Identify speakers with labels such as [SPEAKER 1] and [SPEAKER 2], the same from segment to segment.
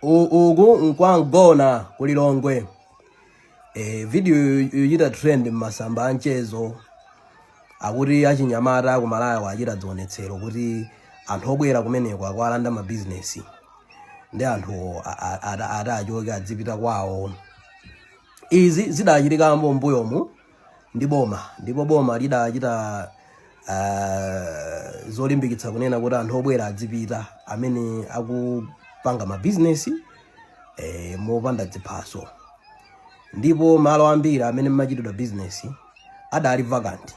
[SPEAKER 1] uku nkwa mgona ku lilongwe e, video yochita trend m'masamba anchezo akuti achinyamata ku malawi achita dzionetsero kuti anthu obwera kumeneko akwalanda mabizinesi ndi anthu ati achoke adzipita kwawo izi zidachitika mbuyomu ndi boma ndipo boma lidachita uh, zolimbikitsa kunena kuti anthu obwera adzipita amene akupanga mabizinesi eh, mopanda dziphaso ndipo malo ambiri amene mmachitidwa bizinesi adali vacant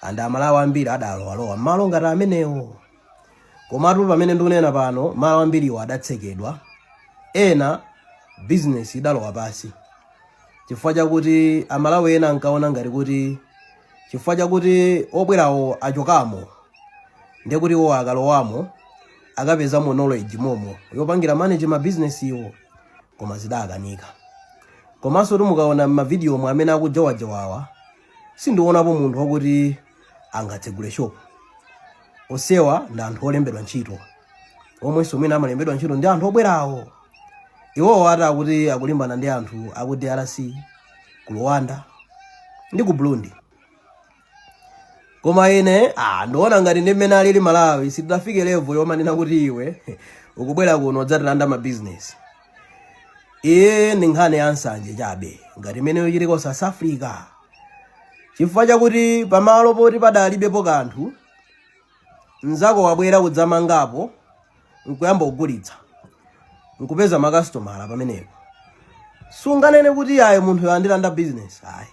[SPEAKER 1] and amalawi ambiri adalowalowa mmalo ngati amenewo Komatu pamene ndikunena pano malo ambiriwo adatsekedwa, ena bizinesi idalowa pasi chifukwa chakuti amalawi ena ankaona ngati kuti chifukwa chakuti obwerawo achokamo ndiye kuti iwo akalowamo akapezamo knowledge momo yopangira manage mabizinesiwo koma zidakanika komanso mukaona m'mavidiyo omwe amene akujowajowawa sindionapo munthu wakuti angatsegule shop onsewa ndi anthu olembedwa ntchito omwenso mwina amalembedwa ntchito ndi anthu obwerawo iwowo ati akuti akulimbana ndi anthu aku drc ku rwanda ndi ku burundi koma ine ah, ndiona ngati ndi mmene alili malawi sitidafike level yomanena kuti iwe ukubwera kuno kudzatilanda mabizinesi iyi ndi nkhani ya nsanje chabe ngati imene yochitika ku south africa chifukwa chakuti pamalo poti padalibepo kanthu mnzako wabwera kudzamangapo nkuyamba kugulitsa nkupeza makasitomala pamenepo sunganene kuti ayi munthuyu wandilanda business ayi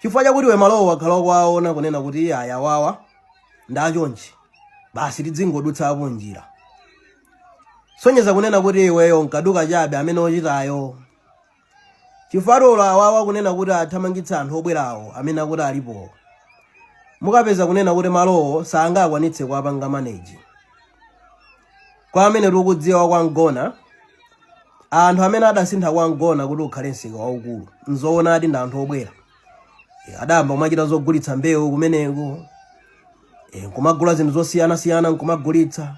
[SPEAKER 1] chifukwa chakuti iwe malowo wakhala ukuwaona kunena kuti ayi awawa ndachonchi basi tidzingodutsapo njira sonyeza kunena kuti iweyo nkaduka chabe amene ochitayo chifukwa olo awawa kunena kuti athamangitse anthu obwerawo amene akuti alipo mukapeza kunena kuti malowo sangakwanitse kuwapanga manage kwa amene tikudziwa kwa mgona anthu amene adasintha kwa mgona kuti ukhale msika waukulu nzoonadi ndi anthu obwera Eh, adayamba kumachita zogulitsa mbewu kumeneko eh, nkumagula zinthu zosiyanasiyana nkumagulitsa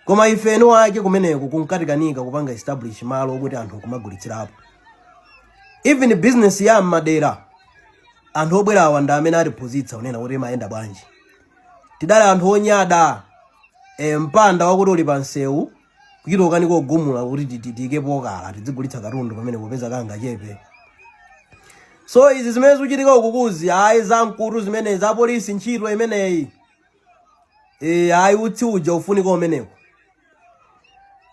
[SPEAKER 1] koma ife eni wake kumeneko kunkatikanika kupanga establish malo okuti anthu nkumagulitsirapo even business ya mmadera anthu obwerawa ndi amene atiphunzitsa kunena kuti imayenda bwanji tidali anthu onyada e, mpanda wakuti uli pa msewu kuchitoka ndi kugumula kuti ti tikapokhala tidzigulitsa katundu pamene popeza kangachepe so izi zimene zikuchitika ukukuzi ayi zamkutu zimene za polisi ntchito imeneyi e, ayi utsi uja ufunika kumeneko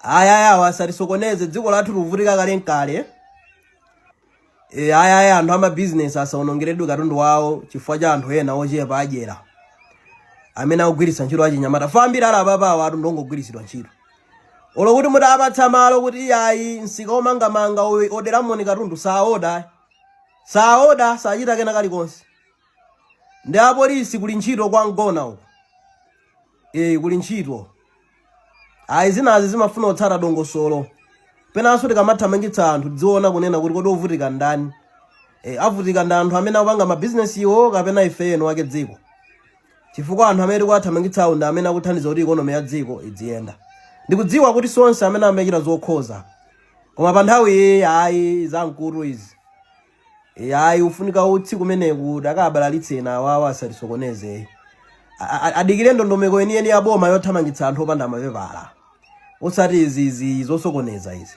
[SPEAKER 1] ayi ayi awa asatisokoneze dziko lathu likuvutika kalekale E, aya aya anthu amabizinesi asaonongeredwe katundu wawo chifukwa cha anthu ena ochepa adyera amene akugwiritsa ntchito achinyamata fambira awa apapawa atu ndi ongogwiritsidwa ntchito olo kuti mutapatsa malo kuti ayi msika womangamanga o- oderamoni katundu saoda saoda sachita kena kalikonse ndi apolisi kuli ntchito kwa Mgona uko e, kuli ntchito ayi zinazi zimafuna kutsata dongosolo penanso tikamathamangitsa anthu tidziona kunena kuti kodi ovutika ndani e, avutika ndi anthu amene akupanga mabizinesiwo kapena ife eni wake dziko chifukwa anthu amene tikuwathamangitsawo ndi amene akuthandiza kuti ikonomi ya dziko idziyenda ndikudziwa kuti si onse amene amachita zokhoza koma pa nthawi iyi ayi zamkutu izi yayi ufunika utsi kumeneku ukabalalitse ena awawa asatisokoneze adikire ndondomeko yeniyeni ya boma yothamangitsa anthu opanda mapepala osati izizi zosokoneza izi